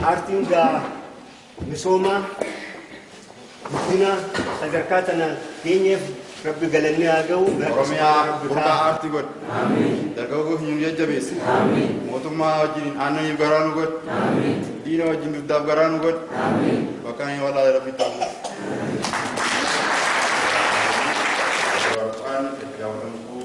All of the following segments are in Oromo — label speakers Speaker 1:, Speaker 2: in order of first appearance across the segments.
Speaker 1: Paartiin gaa misoomaa guddina sadarkaa tana geenyeef rabbi galanni haa ga'u. Oromiyaa burqaa
Speaker 2: aartii godhe. Dargaggoo keenya nu jajjabeesse. Mootummaa wajjin aannaniif garaa nu godhe. Diina wajjin dugdaaf garaa nu godhe. Bakka hin walaa rabbi ta'u. Warqaan itti daawwatamtuu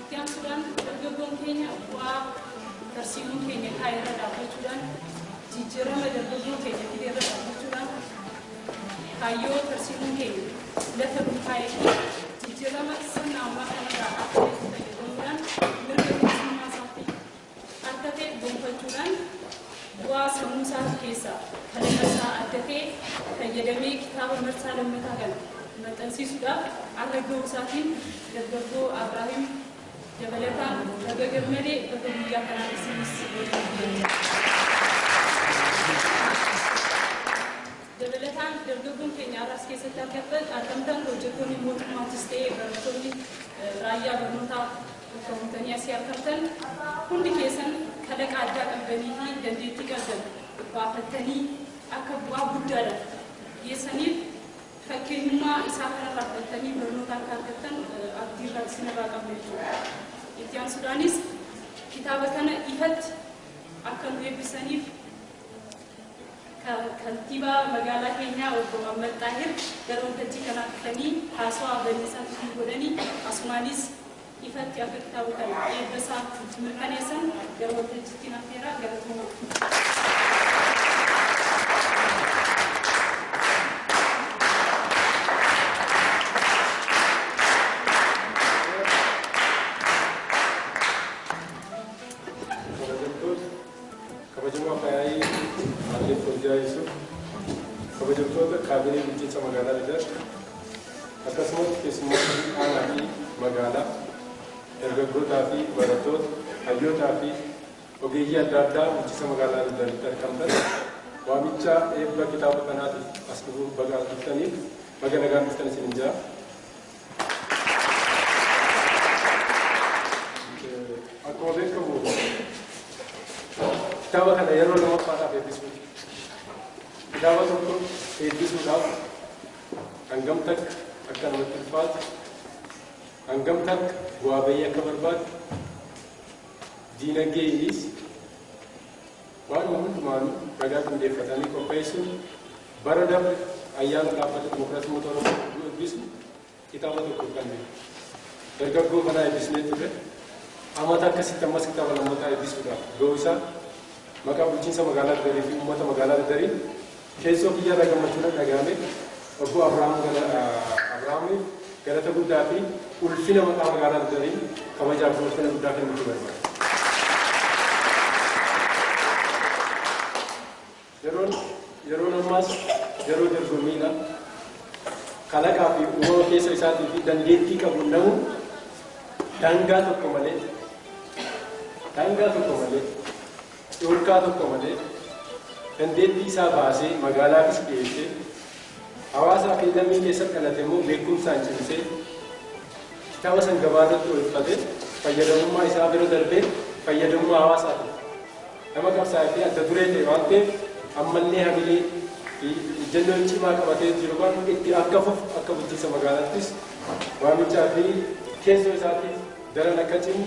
Speaker 2: Itti aansuudhaan dargaggoon keenya bu'aa tarsiimoon keenya kaa'e irra dhaabbachuudhaan jijjiirama dargaggoo keenya fide irra dhaabbachuudhaan kaayyoo tarsiimoon keenya lafa nuu kaa'ee fi jijjiirama sirna ammaa kanarraa akka ta'etti fayyadamuudhaan mirga bilisummaa isaatti akka ta'e gonfachuudhaan bu'aa sammuu isaati keessaa kalaqa isaa adda ta'e fayyadamee kitaaba marsaa lammataa kana maxxansiisuudhaaf arra ga'uu isaatiin dargaggoo Abraahim dabalataan baga gammade baga guyyaa kanaan isinis waliin geenye. Dabalataan dargaggoon keenya arraas keessatti argamtan hojjettoonni mootummaattis ta'ee barattoonni raayyaa barnootaa Milkoomtanii asii argamtan hundi keessan kalaqa addaa qabdanii fi dandeettii qabdan baafattanii akka bu'aa guddaadhaaf geessaniif fakkeenyummaa isaa kanarraa fudhattanii barnoota akka argattan abdii irraa isin irraa qabna jechuudha. Itti aansuudhaanis kitaaba kana ifatti akka nu eebbisaniif Kantiibaa magaalaa keenyaa Obbo Muhammad Xaahir gara waltajjii kanaa dhufanii haasawaa baniisaa nutii godhani asumaanis ifatti akka kitaaba kana eebba isaa nutti mirkaneessan gara waltajjittiin affeeraa galatoomaa.
Speaker 3: Kabajamoo Afayaa'ii Aaddee Foozziyaa Yusuuf, kabajamtoota kaabinee bulchiinsa magaalaa Lidat, akkasumas keessummootni aanaa fi magaalaa, dargaggootaa fi barattoota, hayyootaa fi ogeeyyii adda addaa bulchiinsa magaalaa Lidatitti argamtan, waamicha eebba kitaaba kanaatiif as dhufuuf baga as dhuftaniif baga nagaan dhuftan isiniin jedha. Akkuma beekamu kitaaba kana yeroo lammaffaadhaaf eebbisuu. Kitaaba tokko eebbisuudhaaf hangam takka akka namatti ulfaatu, hangam takka bu'aa bahii akka barbaadu, diinagdeeynis Waanuma hundumaanuu ragaa qindeeffatanii qopheessuun bara dabre ayyaana Dhaabbata Dimokiraasii Uummata Oromoo yommuu eebbisnu kitaaba tokko fudhanne. Dargaggoo kanaa eebbisnee turre. Amata akkasitti ammas kitaaba lammataa eebbisuudhaaf ga'uu isaa maqaa bulchiinsa magaalaa Dadariifi uummata magaalaa Dadariin Keessoo kiyya irra gammachuu natti dhaga'ame. Obboo Abrahaam Abrahaamiif galata guddaa fi ulfina maqaa magaalaa Gudariin kabajaa fi ulfina guddaa kennuufi barbaada. Yeroon yeroon ammaas yeroo dorgommiidha. Kalaqaa fi uumama keessa isaatii fi dandeettii qabu namu daangaa tokko malee daangaa tokko malee dhorkaa tokko malee dandeettii isaa baasee magaalaafis dhiyeessee hawaasaa fi lammii keessatti dhalate immoo beekumsaan cimsee kitaaba san gabaa irratti oolfatee fayyadamummaa isaa bira darbee fayyadamummaa hawaasaatiif nama qabsaa'ee fi adda duree ta'e waan ta'eef ammallee hamilee fi ejjennoo cimaa qabatee jiru kan itti akka fufu akka bulchiinsa magaalaattis waamichaa fi keessoo isaatiif daran akka cimu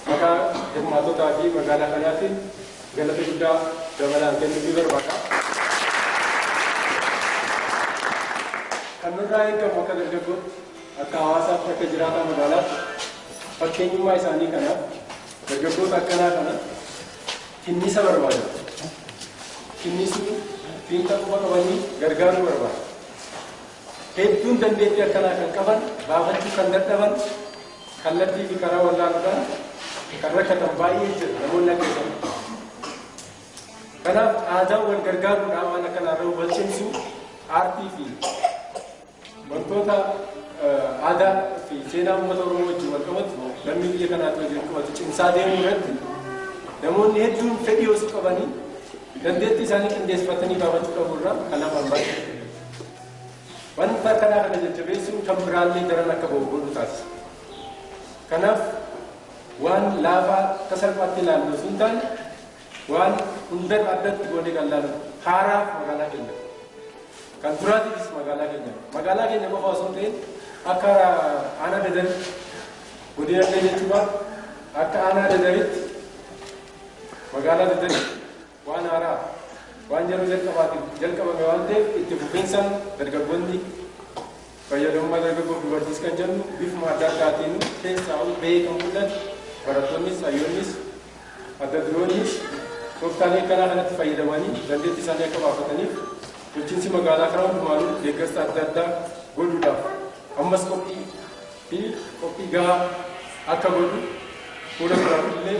Speaker 3: Maqaa hirmaattotaa fi magaalaa kanaatiin galata guddaa dabalaan kennuufii barbaada. Kan nurraa eegamu akka dargaggootti, akka hawaasaatti, akka jiraataa magaalaatti fakkeenyummaa isaanii kana, dargaggoota akkanaa kana tinniisa barbaada. Tinniisuu fiinxa quba qabanii gargaaruu barbaada. hedduun dandeettii akkanaa kan qaban baafachuu kan dadhaban kallattii fi karaa wallaaluudhaan kan rakkatan baay'ee jira namoonni akka isaanii. Kanaaf aadaan wal gargaaruudhaa waan akkanaa irra wal cimsuu aartii fi wantoota aadaa fi seenaa uummata Oromoo wajjin wal qabatu lammii biyya kanaatti wajjin wal qabatu cimsaa deemuu irratti namoonni hedduun fedhii osoo qabanii dandeettii isaanii qindeessifatanii baafachuu qabu irraa kan hafan baay'ee. Wanta akkanaa kana jajjabeessuun kan biraallee daran akka ba'u godhuu taasisa. Kanaaf, waan laafaa akka salphaatti ilaallu osoo hin taane, waan hundarra addatti goonee kan ilaallu dha. Haaraaf magaalaa keenya, kan duraatiifis magaalaa keenya. Magaalaa keenya qofa osoo hin ta'in, akka aanaa Dadaritti, godina illee jechuu baatu, akka aanaa Dadaritti, magaalaa Dadaritti, Waan haaraa waan yeroo jalqabaatiif jalqabame waan ta'eef itti fufinsaan dargaggoonni fayyadamummaa dargaggoof dubartiis kan jennu bifuma adda addaatiin keessaa'uu bahee kan mul'atu barattoonnis hayyoonnis adda duroonnis tooftaalee akkanaa kanatti fayyadamanii dandeettii isaanii akka baafataniif bulchiinsi magaalaa karaa hundumaanuu deeggarsa adda addaa godhuudhaaf ammas qophii fi qophii gahaa akka godhu fuula duraatti illee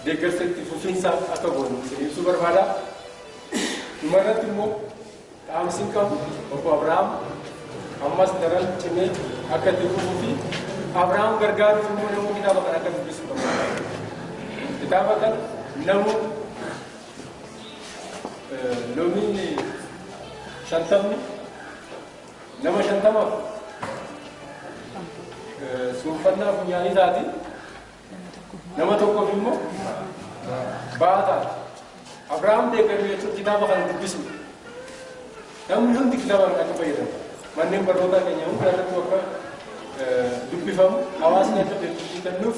Speaker 3: deeggarsa itti fufiinsaa akka goonu isin ibsuu barbaada. Dhuma irratti immoo dhaamsiin qabu obbo Abiraam ammas daran cimee akka itti fufuu fi Abiraam gargaaruuf immoo namuu kitaaba kana akka dubbisu barbaada. Kitaaba kana namuu lomiin shantamni Nama shantamaaf suuffannaa funyaanii taati. Nama tokkoof immoo ba'aa taati. Abrahaam deeggaruu jechuun kitaaba kana dubbisuu. Namni hundi kitaaba kana akka fayyadamu. Manneen barnootaa keenya hunda irratti akka dubbifamu hawaasni akka beekumsi kennuuf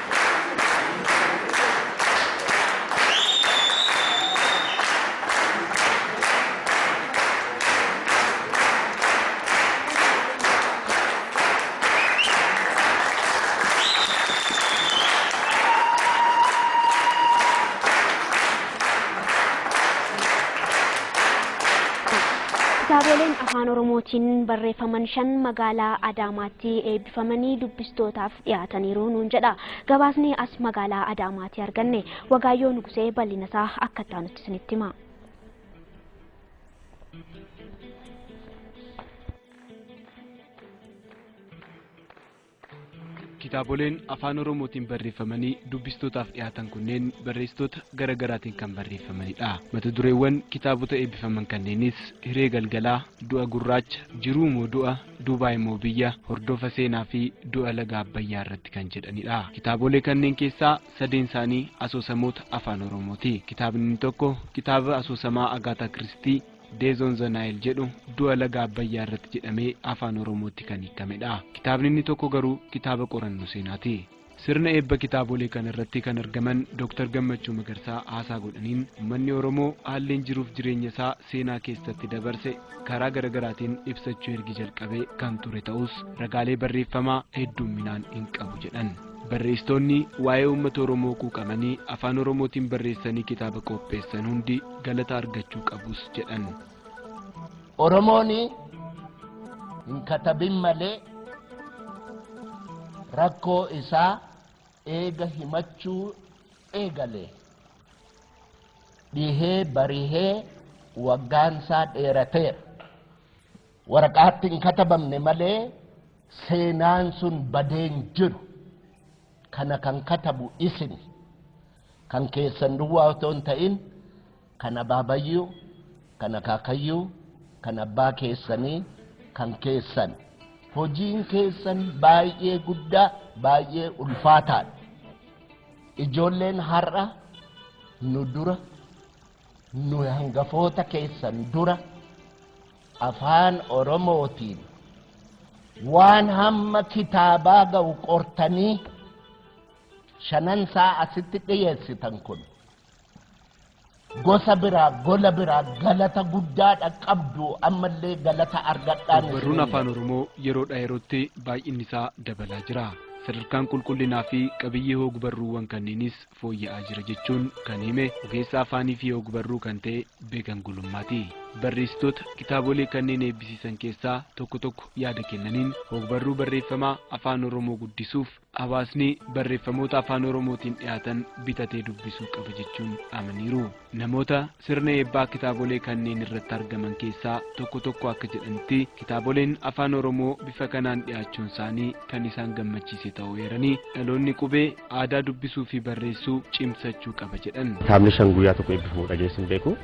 Speaker 4: Kitaaboleen afaan Oromootiin barreeffaman shan magaalaa Adaamaatti eebbifamanii dubbistootaaf dhiyaataniiru nuun jedha. Gabaasni as magaalaa Adaamaatii arganne Wagaayyoo Nugusee bal'ina isaa akka itti aanutti isinitti hima.
Speaker 5: Kitaaboleen afaan Oromootiin barreeffamanii dubbistootaaf dhiyaatan kunneen barreessitoota gara garaatiin kan barreeffamanidha. Mata dureewwan kitaabota eebbifaman kanneenis Hiree Galgalaa, Du'a Gurraacha, Jiruu moo Du'a, Duubaay immoo biyya hordofa seenaa fi du'a laga Abbayyaa irratti kan jedhanidha. Kitaabolee kanneen keessaa sadeen isaanii asoosamoota Afaan Oromooti. Kitaabni inni tokko kitaaba asoosamaa Agaataa Kiristii Death on the Nile jedhu du'a laga Abbayyaa irratti jedhamee Afaan Oromootti kan hiikamedha. Kitaabni inni tokko garuu kitaaba qorannoo seenaati. Sirna eebba kitaabolee kana irratti kan argaman Dr. Gammachuu Magarsaa haasaa godhaniin ummanni Oromoo haalleen jiruuf jireenya isaa seenaa keessatti dabarse karaa garagaraatiin ibsachuu ergi jalqabee kan ture ta'us ragaalee barreeffamaa hedduumminaan hin qabu jedhan. Barreessitoonni waa'ee uummata Oromoo quuqamanii afaan Oromootiin barreessanii kitaaba qoopheessan hundi galata argachuu qabus jedhan.
Speaker 6: Oromoon hin katabin malee rakkoo isaa eega himachuu eegale dhihee barihee waggaan isaa dheerateera. Waraqaatti hin katabamne malee seenaan sun badeen jiru kana kan katabu isin kan keessan duwwaa otoo hin ta'in kan abaabayyuu, kan akaakayyuu, kan abbaa keessanii, kan keessan. Hojiin keessan baay'ee guddaa, baay'ee ulfaataadha. Ijoolleen har'a nu dura, nu hangafoota keessan dura afaan Oromootiin waan hamma kitaabaa ga'u qortanii shanan isaa asitti dhiyeessitan kun gosa biraa gola biraa galata guddaadha qabdu ammallee galata argadhaan Ogbarruun afaan Oromoo
Speaker 5: yeroodhaa yerootti baay'inni isaa dabalaa jira. Sadarkaan qulqullinaa fi qabiyyee hogbarruuwwan kanniinis fooyya'aa jira jechuun kan hime ogeessa afaanii fi hogbarruu kan ta'e Beekan Gulummaati. Barreessitoota kitaabolee kanneen eebbisiisan keessaa tokko tokko yaada kennaniin hogbarruu barreeffamaa afaan Oromoo guddisuuf Hawaasni barreeffamoota afaan Oromootiin dhiyaatan bitatee dubbisuu qaba jechuun amaniiru. Namoota sirna eebbaa kitaabolee kanneen irratti argaman keessaa tokko tokko akka jedhanitti kitaaboleen afaan Oromoo bifa kanaan dhiyaachuun isaanii kan isaan gammachiise ta'uu eeranii dhaloonni qubee aadaa dubbisuu fi barreessuu cimsachuu qaba jedhan. Kitaabni shan guyyaa tokko
Speaker 7: eebbifamu dhageessu hin beeku.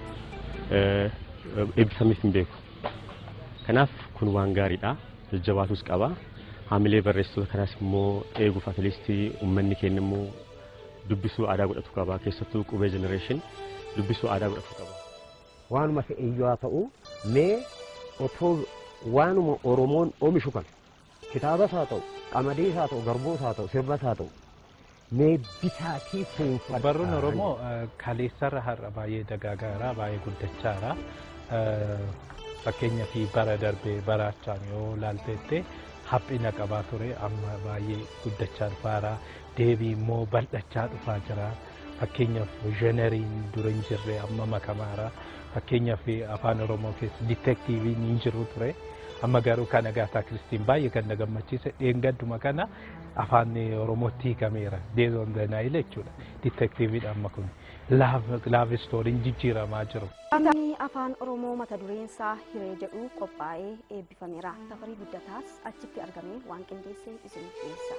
Speaker 7: Eebbifamees hin beeku. Kanaaf kun waan gaariidha. Jajjabaatus qaba. Haamilee barreessitoota kanaas immoo eeguuf atiliistii uummanni keenya immoo dubbisuu aadaa godhatu qaba. Keessattuu qubee jenereeshin dubbisuu aadaa godhatu qaba. Waanuma ta'e
Speaker 8: iyyuu haa ta'u mee otoo waanuma Oromoon omishu kana Kitaabas haa ta'u, qamadiis haa ta'u, garbuus haa ta'u, sirbas haa ta'u mee bitaatii fuunfadhaa. Barruun Oromoo
Speaker 9: kaleessarra har'a baay'ee dagaagaara, baay'ee guddachaara. Fakkeenyaaf bara darbee baraachaan yoo laalteette haphina qabaa ture amma baay'ee guddachaa dhufaara. Deebii immoo bal'achaa dhufaa jira. Fakkeenyaaf zheneriin dura hin jirre amma makamaara. Fakkeenyaaf afaan Oromoo keessa ditektiiviin hin jiru ture. Amma garuu kan Agaataa Kiristiin baay'ee kan na gammachiise dheengadduma kana afaan Oromootti hiikameera. Deez on the Nile jechuudha. Ditektiiviidha amma kun. Laaf istooriin jijjiiramaa jiru. Kitaabni afaan
Speaker 4: Oromoo mata dureen isaa hiree jedhu qophaa'ee eebbifameera. Tafarii Guddataas achitti argamee waan qindeesse isiniif dhiyeessa.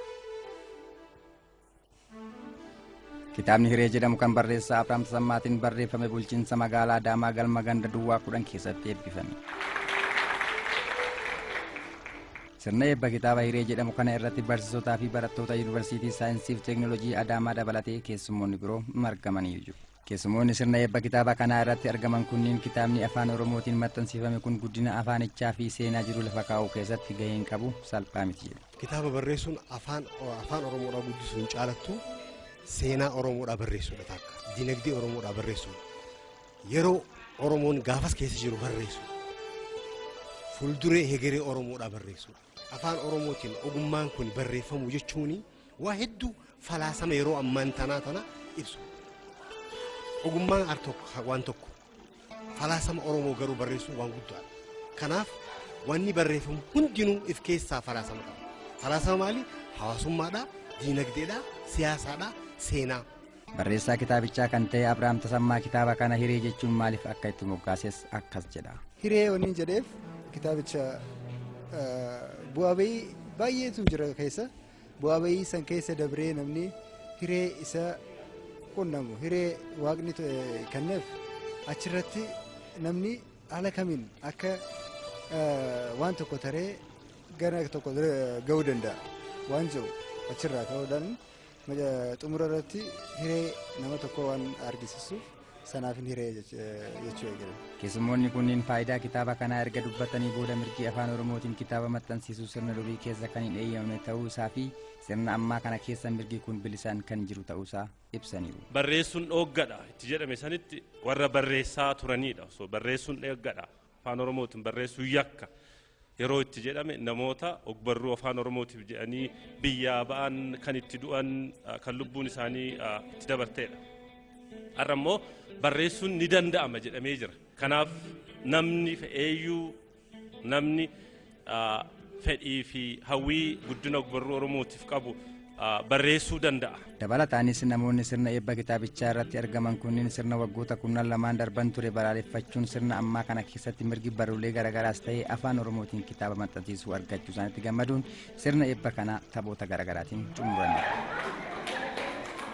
Speaker 10: Kitaabni Hiree jedhamu kan barreessaa Abrahaam Tasammaatiin barreeffame bulchiinsa magaalaa Adaamaa galma ganda duwwaa kudhan keessatti eebbifame. Sirna eebba kitaaba Hiree jedhamu kana irratti barsiisotaa fi barattoota Yuunivarsiitii Saayinsiif Teeknooloojii Adaamaa dabalatee keessummoonni biroo margamanii jiru. Keessumoonni sirna eebba kitaaba kanaa irratti argaman kunniin kitaabni afaan Oromootiin maxxansiifame kun guddina afaanichaa fi seenaa jiru lafa kaa'uu keessatti gaheen qabu salphaa miti jedhu. Kitaaba barreessuun
Speaker 11: afaan afaan Oromoodhaa guddisuun caalattu seenaa Oromoodhaa barreessuudha takka. Dinagdee Oromoodhaa barreessuudha. Yeroo Oromoon gaafas keessa jiru barreessuudha. Fuulduree hegeree Oromoodhaa barreessuudha. Afaan Oromootiin ogummaan kun barreeffamuu jechuun waa hedduu falaasama yeroo ammaan tanaa tana ibsu. Ogummaan al tokko waan tokko falaasama Oromoo garuu barreessuun waan guddaadha. Kanaaf wanni barreeffamu hundinuu if keessaa falaasama qaba. Falaasama maali? Hawaasummaadha, diinagdeedha, siyaasaadha, seenaa. Barreessaa
Speaker 10: kitaabichaa kan ta'e Abrahaam Tasammaa kitaaba kana hiree jechuun maaliif akka itti moggaases akkas jedha. Hiree waniin jedheef
Speaker 12: kitaabicha bu'aa ba'ii baay'eetu jira keessa. Bu'aa ba'ii san keessa dabree namni hiree isa qunnamu hiree waaqni kenneef achirratti namni haala kamiin akka waan tokko taree gara tokko ga'uu danda'a waan jiru achirraa ka'uudhaan Xumura irratti hiree nama tokkoo waan argisiisuuf sanaaf hin hiree jechuu eegale. Keessummoonni kunneen
Speaker 10: faayidaa kitaaba kanaa erga dubbatanii booda mirgi afaan Oromootiin kitaaba maxxansiisuu sirna durii keessa kan hin eeyyamamne ta'uu isaa fi sirna ammaa kana keessa mirgi kun bilisaan kan jiru ta'uu isaa ibsaniiru. Barreessuun dhooggadha
Speaker 13: itti jedhame sanitti warra barreessaa turanidha. Osoo barreessuun dhooggadha afaan Oromootiin barreessuun yakka yeroo itti jedhame namoota ogbarruu afaan oromootiif jedhanii biyyaa ba'an kan itti du'an ah, kan lubbuun isaanii ah, itti dabarteedha. Har'a immoo barreessuun ni danda'ama jedhamee jira. Kanaaf namni fe'eeyyuu namni ah, fedhii fi hawwii guddina ogbarruu oromootiif qabu barreessuu danda'a. Dabalataanis namoonni
Speaker 10: sirna eebba kitaabichaa irratti argaman kunniin sirna waggoota kurnan lamaan darban ture balaaleffachuun sirna ammaa kana keessatti mirgi barruulee garagaraas ta'ee afaan oromootiin kitaaba maxxansiisuu argachuu isaanitti gammaduun sirna eebba kana taphoota garagaraatiin xumuraniiru.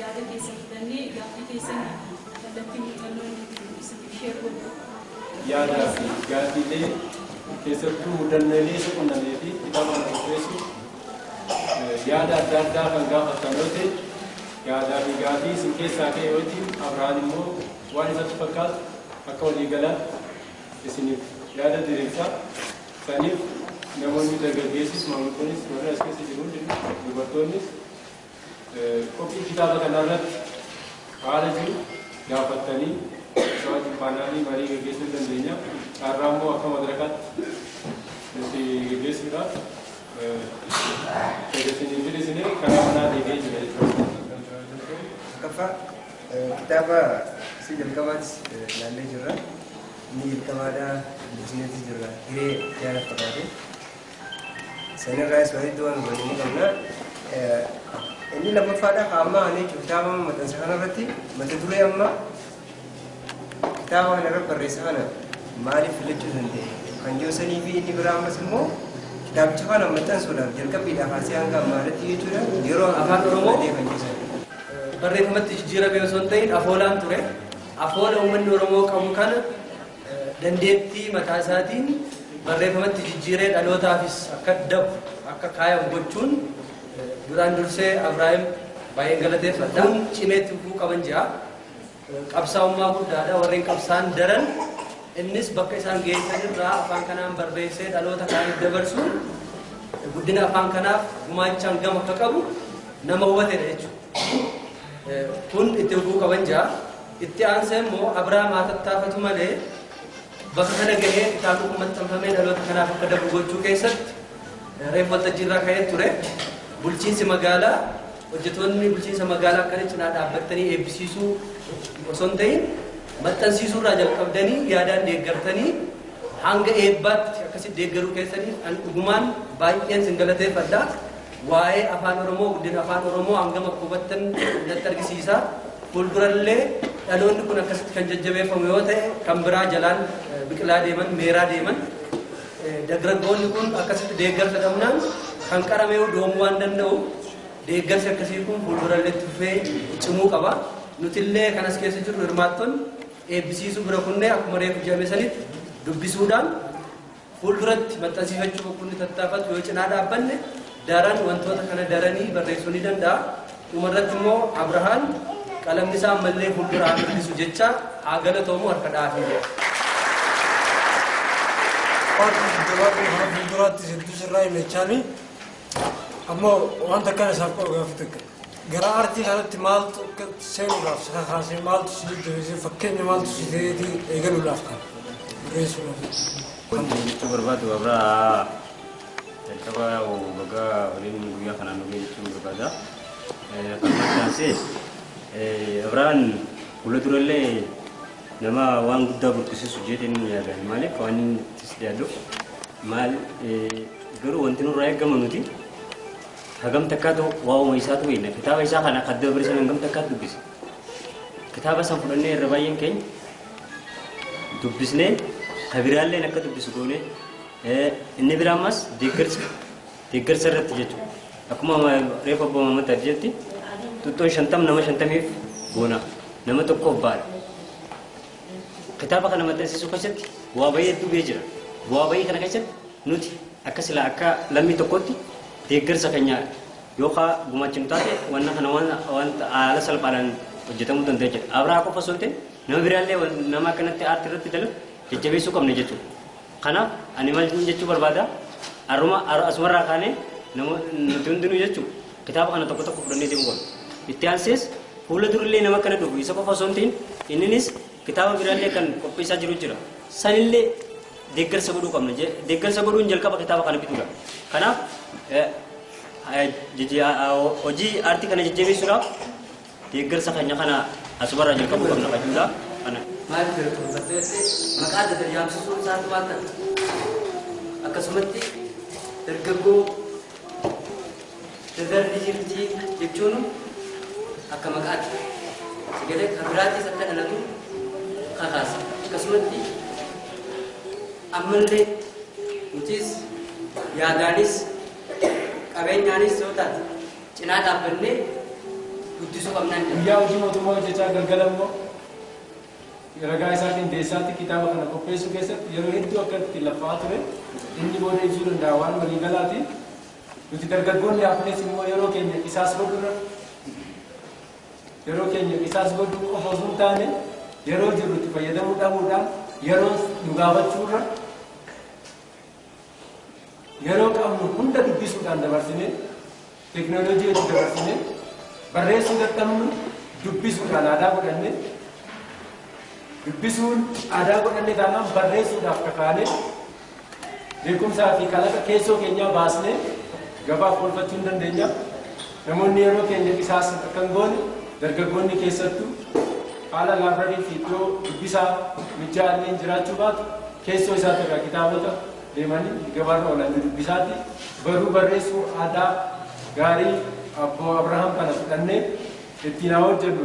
Speaker 14: Yaada keessan fudhannee gaaffii keessan kallattii
Speaker 3: muuxannoo nuuf ibsite share godhu. Yaadaa fi gaaffiilee keessattuu mudannoolee isa qunnamee fi kitaaba kana qopheessuuf yaada adda addaa kan gaafattan yoo ta'e yaadaa fi gaaffii isin keessaa ka'e wajjin Abrahaan immoo waan isatti fakkaatu akka waliigalaatti isiniif yaada diriirsa. Saniif namoonni dargaggeessis maanguddonis warri as keessa jiru hundinuu dubartoonnis Qophii kitaaba kanaa irratti haala jiru gaafattanii isa wajjin paanaalii marii gaggeessuu ni dandeenya. Carraa immoo akka madrakaatti nuti gaggeessuudhaaf fedha isinii firisinee karaa manaa deebi'ee jira jechuudha.
Speaker 15: Tokkoffaa kitaaba isa jalqabaatti ilaallee jirra. Inni jalqabaadhaa dubbisneeti jirra. Hiree yaada fakkaatu. Sanirraayis waa hedduu waan hubannu ni qabna. Inni lammaffaadha ka ammaa kana jechuun kitaaba amma maxxansa kanarratti mata duree amma kitaaba kana irratti barreessa kana maaliif filachuu danda'e kan jiru sanii fi inni biraa ammas immoo kitaabicha kana maxxansuudhaaf jalqabbiidhaa kaasee hanga ammaa irratti jechuudha yeroo afaan oromoo kan jiru sana.
Speaker 16: Barreeffamatti jijjiiramee osoo hin ta'in afoolaan ture. Afoola uummanni oromoo qabu kana dandeettii mataa isaatiin barreeffamatti jijjiiree dhalootaafis akka dabru akka kaayamu gochuun duraan dursee Abraahim baay'een galateeffadha. Kun cimeetti dhufuu qaban jira. Qabsaa'ummaa guddaadha warreen qabsaan daran innis bakka isaan geessan irraa afaan kanaan barreessee dhaloota kaaniif dabarsuun guddina afaan kanaaf gumaachaan gama akka qabu nama hubatedha jechuudha. Kun itti dhufuu qaban jira. Itti aansee immoo Abraam haa tattaafatu malee bakka kana gahee kitaabni kun maxxanfamee dhaloota kanaaf akka darbu gochuu keessatti reef waltajjii irraa ka'ee ture. Bulchiinsi magaalaa hojjetoonni bulchiinsa magaalaa akkana cinaa dhaabbattanii eebbisiisuu osoo hin ta'in maxxansiisuu irraa jalqabdanii yaadaan deeggartanii hanga eebbaatti akkasitti deeggaruu keessanii an dhugumaan baay'een sin galateeffadha. Waa'ee Afaan Oromoo, guddina Afaan Oromoo hangam akka hubattan natti argisiisa. Fuuldurallee dhaloonni kun akkasitti kan jajjabeeffamu yoo ta'e kan biraa jalaan biqilaa deeman, meeraa deeman. Dargaggoonni kun akkasitti deeggarsa dhabnaan kan qarame doomuu waan danda'u deeggarsi akkasii kun fuuldurallee itti fufee cimuu qaba. Nutillee kan as keessa jirru hirmaattonni eebbisiisuu bira kunnee akkuma reefu jedhame sanitti dubbisuudhaan fuulduratti maxxansiifachuu oggunni tattaafatu yoo cinaa dhaabbanne daran wantoota kana daranii barreessuu ni danda'a. Dhumarratti immoo Abrahaan qalamni isaa ammallee fuuldura haa mul'isu jecha haa galatoomu harka dhaafii jedha.
Speaker 17: Fuulduraatti hedduu sirraa hin jechaanii ammoo wanta kana isaaf qabu gaafii takka. Gara aartii kanatti maaltu akka seenuudhaaf si kakaasee maaltu si jajjabeessee fakkeenya maaltu si ta'eetii eegaluudhaaf kan barreessuudhaaf. Kan
Speaker 18: jechuu barbaadu warra jalqaba waggaa waliin guyyaa kanaan nu jechuun barbaada. Akkasumas
Speaker 19: taasise Abraan fuula durallee nama waan guddaa burqisiisu jedheen yaada. Maaliif waan inni itti yaadu maal garuu wanti nurraa eegamu nuti Hagam takkaatu waa'uma isaatu beekna. Kitaaba isaa kana akka dabre san hangam takkaatu dubbise. Kitaaba san fudhannee irra baay'een keenya dubbisnee kabiraalleen akka dubbisu goone inni biraa ammas deeggarsa deeggarsa irratti jechuudha. Akkuma reefa abbaa mammataa jetti tuttuun shantam nama shantamiif goona nama tokkoof baala. Kitaaba kana maxxansiisuu keessatti bu'aa ba'ii hedduu ga'ee jira. Bu'aa ba'ii kana keessatti nuti akka silaa akka lammii tokkootti deeggarsa keenya yookaan gumaachinu taate wanna kana wanta haala salphaadhaan hojjetamuu danda'a jedha. Abrahaa qofa osoo hin ta'in nama biraallee nama akkanatti aartii irratti dalagu jajjabeessuu qabna jechuudha. Kanaaf ani maal isiniin jechuu barbaada? Har'uma asumarraa kaanee nuti hundinuu jechuun kitaaba kana tokko tokko fudhannee deemuu qabna. Itti aansees fuula durillee nama akkana dhufu isa qofa osoo hin ta'in inninis kitaaba biraallee kan qopheessaa jiru jira. Sanillee deeggarsa godhuu qabna. Deeggarsa godhuun jalqaba kitaaba kana bituudha. Kanaaf hojii aartii kana jajjabeessuudhaaf Deeggarsa keenya kana asumarraa jalqabuu qabna kan jedhudha. Kana. Maaliif gara dhuunfattee
Speaker 16: jettee maqaa adda ta'e yaamsisuun isaa immoo maal ta'a? Akkasumatti dargaggoo dadarbi jirti jechuun akka maqaatti sagalee kan biraattis akka dhalatu kakaasa. Akkasumatti ammallee nutis yaadaanis qabeenyaanis yoo taate cinaa dhaabbannee guddisuu qabnaan jedha. Guyyaa hojii mootummaa
Speaker 3: hojjechaa galgala immoo ragaa isaa qindeessaatti kitaaba kana qopheessuu keessatti yeroo hedduu akka itti laffa'aa ture inni booda ibsuu danda'a waan walii galaati. Nuti dargaggoonni hafnes immoo yeroo keenya qisaas godhurra yeroo keenya qisaas godhuu qofa osoo hin taane yeroo jirrutti fayyadamuu dhabuudhaan yeroo nu gaafachuurra Yeroo qabnu hunda dubbisuudhaan dabarsinee, teknolojii itti dabarsinee, barreessuu dadhabnu dubbisuudhaan aadaa godhanne, dubbisuun aadaa godhanne taanaan barreessuudhaaf kakaanee, beekumsaa fi kalaqa keessoo keenyaa baasnee gabaaf oolfachuu ni dandeenya. Namoonni yeroo keenya qisaasan akka hin goone dargaggoonni keessattu haala laabrarii fi iddoo dubbisaa mijjaa'alleen jiraachuu baatu keessoo isaati irraa kitaabota deemanii gabaarra oolan ni dubbisaati. Barruu barreessuu aadaa gaarii Abboo Abrahaam kana fudhannee ittiin haa hojjennu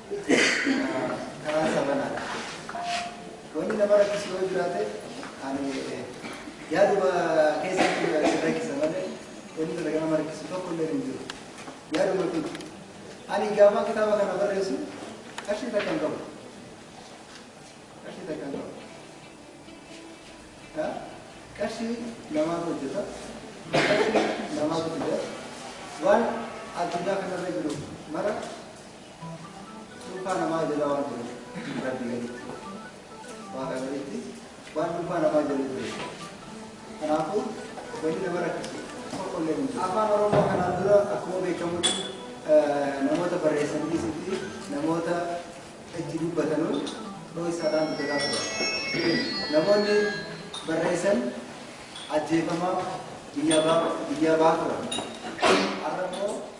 Speaker 12: karaa isaa banaadha. Wanni nama rakkisu yoo jiraate ani yaaduma keessatti rakkisa malee wanni talaga nama rakkisu tokko illee hin jiru. Yaaduma kun ani gaafaa kitaaba kana barreessu qarshii takka hin qabu. Qarshii takka hin qabu. Ha? Qarshii namaatu hojjeta. Qarshii namaatu fida. Waan addunyaa kanarra jiru mara Dhuunfaa namaa jala waan jiruuf rabbi gaditti waaqa gaditti waan dhuunfaa namaa jala jiru. Kanaafuu wanni nama rakkisu tokko illee hin jiru. Afaan Oromoo kanaan dura akkuma beekamutti namoota barreessan dhiisutti namoota itti dubbatanuun dhooysaadhaan dubbataa turan. Namoonni barreessan ajjeefamaa biyyaa ba'aa turan. Har'a immoo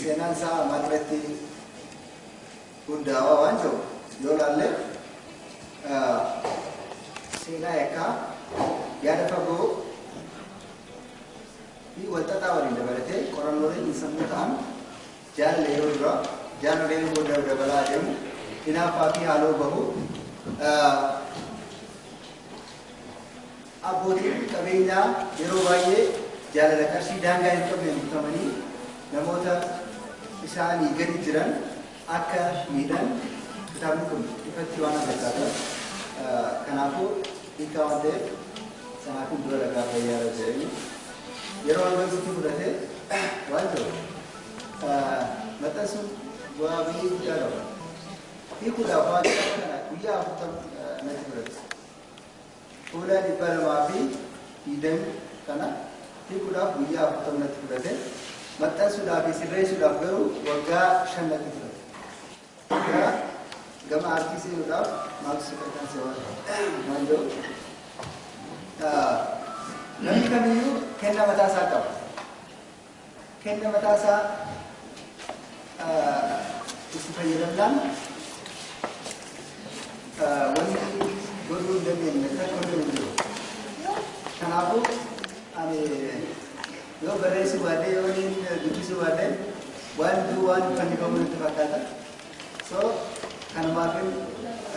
Speaker 12: seenaan isaa ammaa duratti hundaawaa waan jiru yoo laalle seenaa yakkaa yaada fagoo fi walxaxaa waliin dabalatee qorannoolee xiinsammuu ta'an jaalala yeroo dura jaalala yeroo booda dabalaa adeemu hinaaffaa fi haaloo bahu Abbootiin qabeenyaa yeroo baay'ee jaalala qarshii daangaa hin qabneen butamanii namoota isaanii gadi jiran akka miidhan kitaabni kun ifatti waan agarsiisuuf kanaafuu hiikaa waan ta'eef sanaa kun dura lagaa fayyaa irra jedhanii yeroo hanga sitti fudhate waan ta'u maxxansuun bu'aa baay'ee guddaa qaba. Hiikuudhaaf waan kana guyyaa afurtama natti fudhate. Fuula 220 kana hiikuudhaaf guyyaa 40 natti fudhate. Maxxansuudhaa fi sirreessuudhaaf garuu waggaa 5 natti fudhate. Gara gama aartii seenuudhaaf maaltu si kakkaase waan waan jedhu. Ah, Namni kamiyyuu kennaa mataa isaa qaba. kenna mataa isaa itti fayyadamnaan wanti godhuu hin dandeenye kan godhuu hin jiru. Kanaafuu ani yoo barreessuu baadhe yoo niin dubbisuu baadhe waan duu waan fannifamu natti fakkaata. So kanumaafin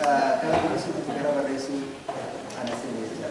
Speaker 12: kana dubbisuutti gara barreessuu ana seenee jira.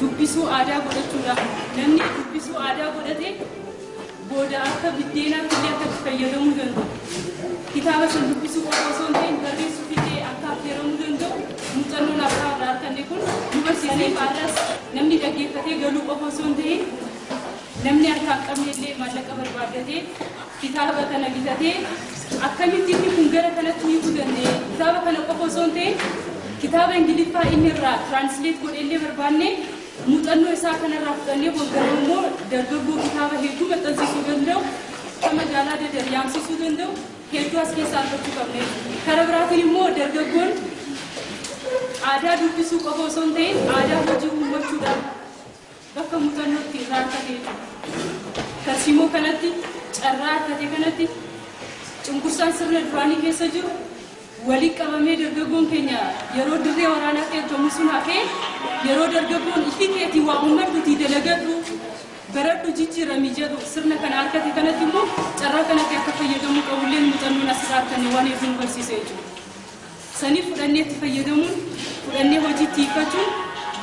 Speaker 14: dubbisuu aadaa godhachuudha. Namni dubbisuu aadaa godhate booda akka biddeenaatti illee akka itti fayyadamuu danda'u. Kitaaba san dubbisuu qofa osoo hin ta'in barreessuuf illee akka affeeramuu danda'u muuxannoon abbaa irraa arganne kun nu barsiisee baarras namni dhaggeeffatee galuu qofa osoo hin ta'in namni harkaa hin qabne illee maallaqa barbaaddatee Kitaaba kana bitatee akkamitti inni kun gara kanatti hiikuu danda'e? Kitaaba kana qofa osoo hin ta'in kitaaba Ingiliffaa inni irraa translate godhe illee barbaannee muuxannoo isaa kanarraa fudhannee waggaruu immoo dargaggoo kitaaba hedduu maxxansiisuu danda'u kan magaalaa dadar yaamsisuu danda'u hedduu as keessaa argachuu qabne. Kara biraatiin immoo dargaggoon aadaa dubbisuu qofa osoo hin ta'in aadaa hojii uummachuudhaan Bakka muuxannootti irraa argate jechuudha. Tarsiimoo kanatti carraa argate kanatti cunqursaan sirna duraanii keessa jiru walitti qabamee dargaggoon keenya yeroo dirree waraanaatti ergamu sun hafee yeroo dargaggoon ifi keetii waa uummadhuutii dalagadhu baradhu jijjiirami jedhu sirna kana argate kanatti immoo carraa kanatti akka fayyadamuu qabulleen muuxannoon asirraa arganne waan hedduu nu barsiisa jechuudha. sanii fudhannee itti fayyadamuun fudhannee hojiitti hiikkachuun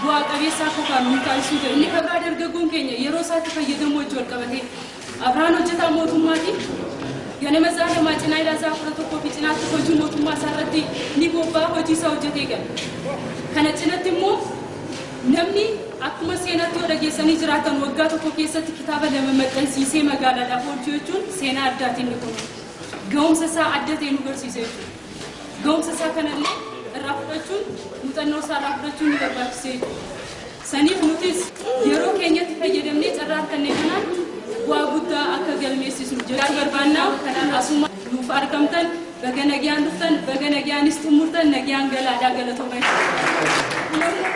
Speaker 14: bu'aa qabeessa akka taanu nu taasisuu jira. Inni kan biraa dargaggoon keenya yeroo isaatti fayyadamuu wajji wal qabatee Abrahaan hojjetaa mootummaati. Ganama isaa lamaa cinaa ilaa isaa kudha tokkoo fi cinaatti hojii mootummaa isaa irratti ni bobbaa hojii isaa hojjetee gala. Kana cinatti immoo namni akkuma seenaatti yoo dhageessanii jiraatan waggaa tokko keessatti kitaaba lama maxxansiisee magaalaadhaaf oolchuu jechuun seenaa addaati inni kun. gahumsa isaa adda ta'e nu garsiisa jechuudha. Gahumsa isaa kanallee irraa fudhachuun muuxannoo isaa irraa fudhachuun ni barbaachisa jechuudha. Saniif nutis yeroo keenyatti fayyadamnee carraa arganne kanaan bu'aa guddaa akka galmeessisnu jechaa barbaannaa kanaan asuma nuuf argamtan baga nagaan dhuftan baga nagaanis xumurtan nagaan galaadhaa galatooma jechuudha.